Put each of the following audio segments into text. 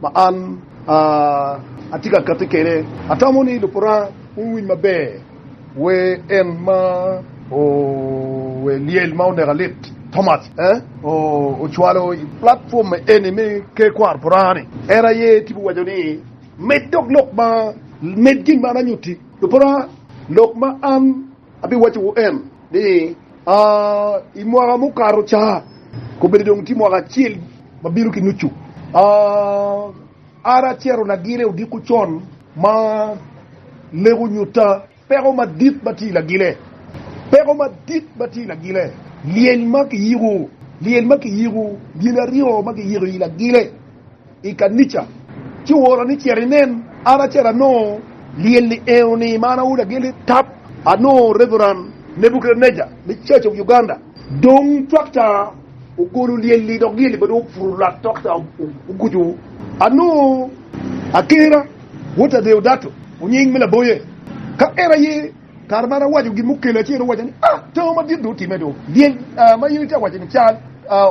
ma an atye ka katti kwede. Atamo ni Lubwa Luranga owiny maber wer En ma ower lyel ma oneka lit, Thomas E. ocwalo i platform eni me Ker Kwaro Buranga ni, En aye tipo waco ni, Med dok lok ma, med gin ma an anyutti, Lubwa Luranga, lok ma an. Abiwacciwu en ni, I mwaka mukato ca, kobedo dong tye mwaka acel ma bino ki nucu, an acito lagile odiko con ma lego nyutta peko madit ma tye i lagile, peko madit ma tye i lagile, lyel ma kiyiko, lyel ma kiyiko, lyel aryo ma kiyiko i lagile. i kanica, ci oora ni cit inen. An acito anongo lyel i enoni ma an awoto aye ni tap. Anongo Reverend Nebuchadnezzar me Church of Uganda. Dong twakta ogolo lyel-li dok lyel-li bene oputo lwak twakta oguco. Anongo Akera Walter Deodato Onyeng me Laboye. Ka en aye kare ma an awaco gin mukele, ci en owaca ni, Ah, tango madit dong otimme do! Lyel ma in itye ka waco-ni cal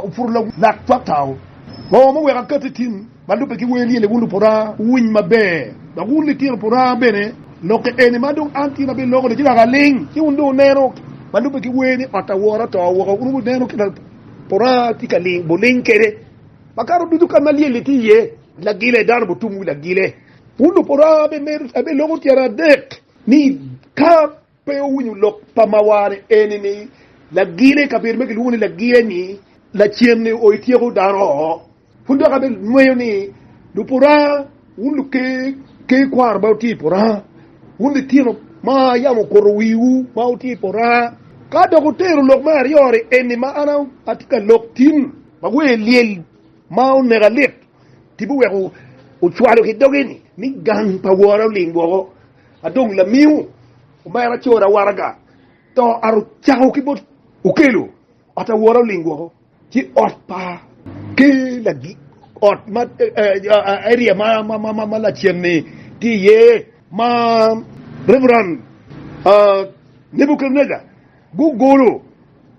oputo lwak twakta-o. Bongo ma weko akatti i tim ma lubbe ki wer lyel-li, wun lupora, wuwiny maber, dok wun litino pora bene, lokke eni ma dong an tina biloko ni ci laka ling, ci wun dong wuneno ma lubbe ki wer ni ot awora oto woko, wun wuneno kit ma pora tye ka ling buling kwede. Makato ducu kan ma lyel-li tye iye, lagile, dano butum wi lagile. Wun lupora, abiloko tyen adek ni ka Pe owinyo lok pa mawar-ni eni ni, Lagire i kabedo ma gilwongo ni lagire-ni, lacen-ni o ityeko dano oo. Pud dok abe nweyo ni, Lupuranga, wun luker ki kwaro ma wutye i puranga, wun litino ma yam okuto wiwu ma wutye i puranga, ka dok wutero lok me aryo-ni eni ma an atye ka lok tin, ma wer lyel ma oneka lit, tipo wek wucwalo ki dogi ni, ni gang pa Wora oling woko, adong lamiu omera cora waraga to aro cako ki bot okelo ot awora oling woko ci ot pa ki lagi ot ma area ma ma ma ma lacen ni ti iye ma reverend Nebuchadnezzar gugolo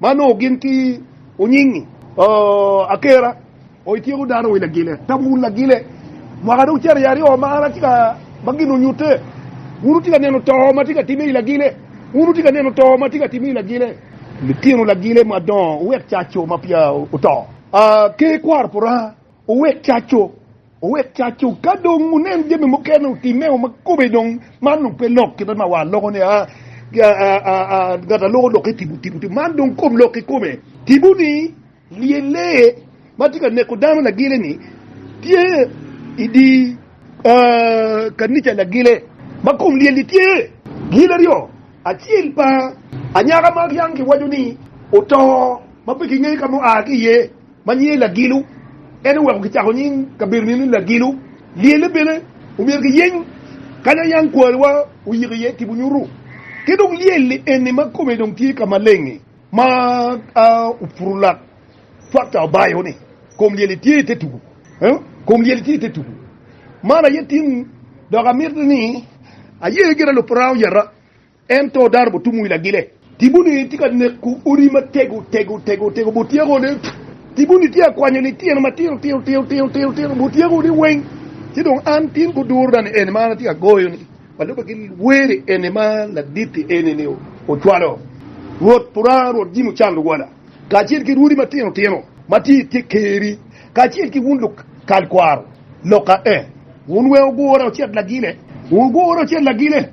ma nongo gin ki onyingi. Akera o ityeko dano wi lagile tam wun lagile mwaka dong cariya aryo ma an atye ka ma gin onyute wun wutye ka neno to ma tye ka time i lagile wun wutye ka neno to ma tye ka time i lagile litino lagile madongo wuwek caco ma peya wuto aa ke kwaro puranga. Owek caco, owek caco, ka dong wunen jami mukene otimme o ma kobbe dong man dong pe lok kite ma war loko ni aa, ngat a loko lokke tibu tibu tibu, man dong kom lok kikome, tibu ni lyel lee ma tye ka neko dano lagile ni tye i di kanica lagile ma kom lyel ni tye gin aryo, acel pa anyaka ma yang kiwaco ni oto ma pe ki ngeyo ka ma oa ki iye. ma nyinge Lagilu, en oweko kicako nying kabedo-ni ni Lagilu. Lyelle bene omyero kiyeny kanya yam kwariwa oyiko iye tipo nyutu. Ki dong lyel eni ma kome dong tye ka maleng-ngi ma a Upurulak Tractor obayo ni, Kom lyel-li tye i te tugu. Kom lyel-li tye i te tugu. Man aye tin dok amito ni aye gire lupurang oyeta. Ento dano butum wi lagile. Tipo ni tye ka neko odi matego tego tego tego butyeko ni tipo ni tye ka kwanyo litino matino tino tino tino tino tino butyeko ni weng ci dong an tin guduro na ni eni ma an atye ka goyo ni walube ki weri eni ma laditti eni ni ocwalo Rwot pura Rwot jimi ocan luwala kacel ki rwodi matino tino ma tye itye keri kacel ki wun luk kal kwaro loka eh wun weng ogura ocit lagile wun ogura ocit lagile.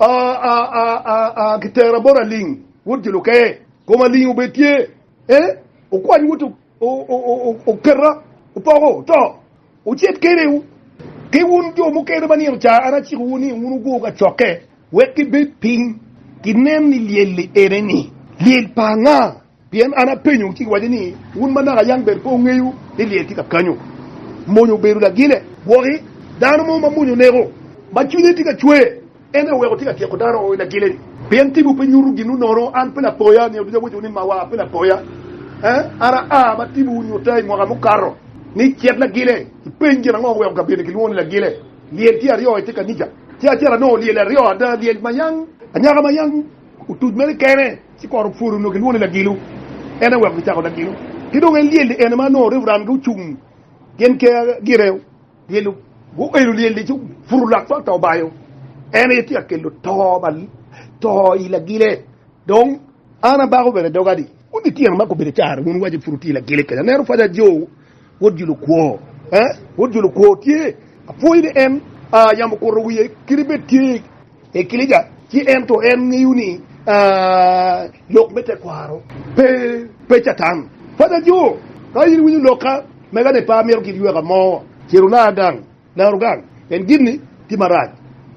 Aa, kitera bot Aling, wod Juluke, kom Aling obed tye, ee, okwany wot oketa, opoko, to ocit kede, ki wun jo mukene ma nino ca an acikowu ni wun wugur kacokke, wek gibed piny, ginen ni lyel-li ene-ni, lyel pa anga? Pien an apenyowu, ci giwaco ni, 'Wun manaka yam ber pe wungeyo ni lyel tye ka kanyo? Mony obedo lagile. Gwoki dano mo ma mony oneko, ma cwinye tye ka cwer, en aye oweko tye ka tyeko dano i lagile-ni. Pien timwu pe nyuto ginwu nono. An pe lapoya? Nino ducu awacowu ni mawa pe lapoya. An aa ma timmiwu nyuta i mwaka mukato ni cet lagile. Ipeny gin ango ma oweko kabedo-ni kilwongo ni lagile? Lyel tye aryo i te kanica, ci acel anongo lyel aryo ada, lyel ma yam anyaka ma yam. Otuc mere kene ci kor opwodo onongo kilwongo ni lagilo, en aye oweko kicako lagilo. Ki dong en lyel-li ene ma nongo Reverend gucung gin keya gire lyelo, guelo lyel-li ci oputo lak cwak to obayo. En aye tye ka kelo to pa to i lagile. Dong an abako bene doga ni wun litino ma gubedo caro wun iwaco pud wutye i lagile kenya. Aneno paca Jo wod Julo kwo, eh, wod Julo kwo tye, apwoyo ni en yamo okuto wiye kadi bed tye. E kilica, ci ento en ngeyo ni lok me tekwaro pe Catan. Panya jo, ka in iwinyo lokka, mega ni pe amito kit yweka mo, ciro na adang, laro gang, en gini tye marac.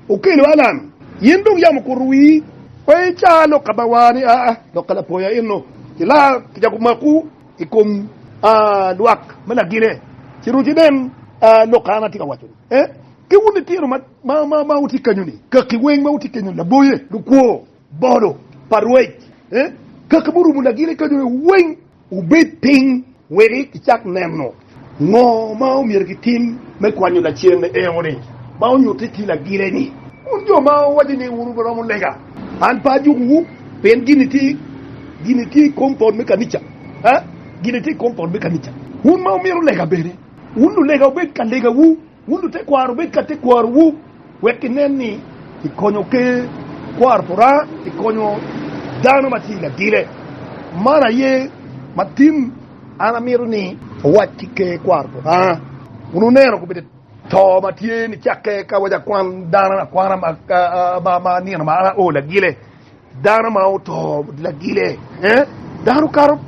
Okelo Alan, in dong yam okuto wii, pe icaa lok kabawa ni aa lok ka lapoya eno, ci la kicako maku i kom lwak me lagine, ciro ci nen lok ka an atye ka waco ni, eh, ki wun litino ma. Ma wutye kenyo-ni, kaki weng ma wutye kenyo-ni, laboye, lukwo, bolo pa rwec, kaki murumo lagile kenyo-ni weng, wubed piny wek icak neno ngo ma myero gitim me kwanyo lacen enoni ma onyutte ki lagile-ni. Wun jo ma wuwaco ni wun wuromo lega, an pe ajukowu, pien gin-ni tye i kom pol me kanica. Wun ma wumito lega bene, wun lulega wubed ka legawu. Wun lutekwaro wubed ka tekwarowu wek kinen ni kikonyo Ker kwaro pa Lubanga pi konyo dano ma tye i lagile. Man aye ma tin an amito ni awac ki Ker kwaro pa Lubanga. Wun wuneno kobeddi to ma tye ni cakke ka waco akwan dano akwana ma nino ma an ao lagile? Dano ma oto lagile, dano kato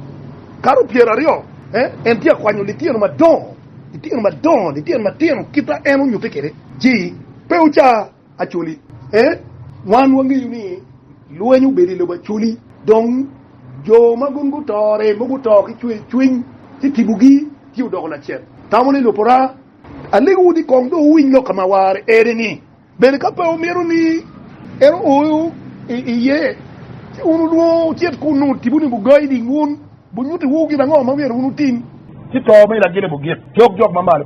kato pyer aryo, en tye ka kwanyo litino madongo, litino madongo, litino matino kit ma en onyutte kwede. Ci pe wuca Acholi, wan wangeyo ni lweny obedo i lobo Acholi, dong jo ma gin gutore, ma guto ki cwercwiny, ci tibogi tye odoko lacen. Tamo ni Lupora, alegowu ni kong dong wuwiny lok ka ma awarre eni-ni. Bene ka pe wumito ni en oyo iye, ci wun wulwongo wucit kunnu, wutibu ni bugai ni wun bunyutiwu gin ango ma myero wun wutim. Ci to me Lagilibu gik cok jok mamalo.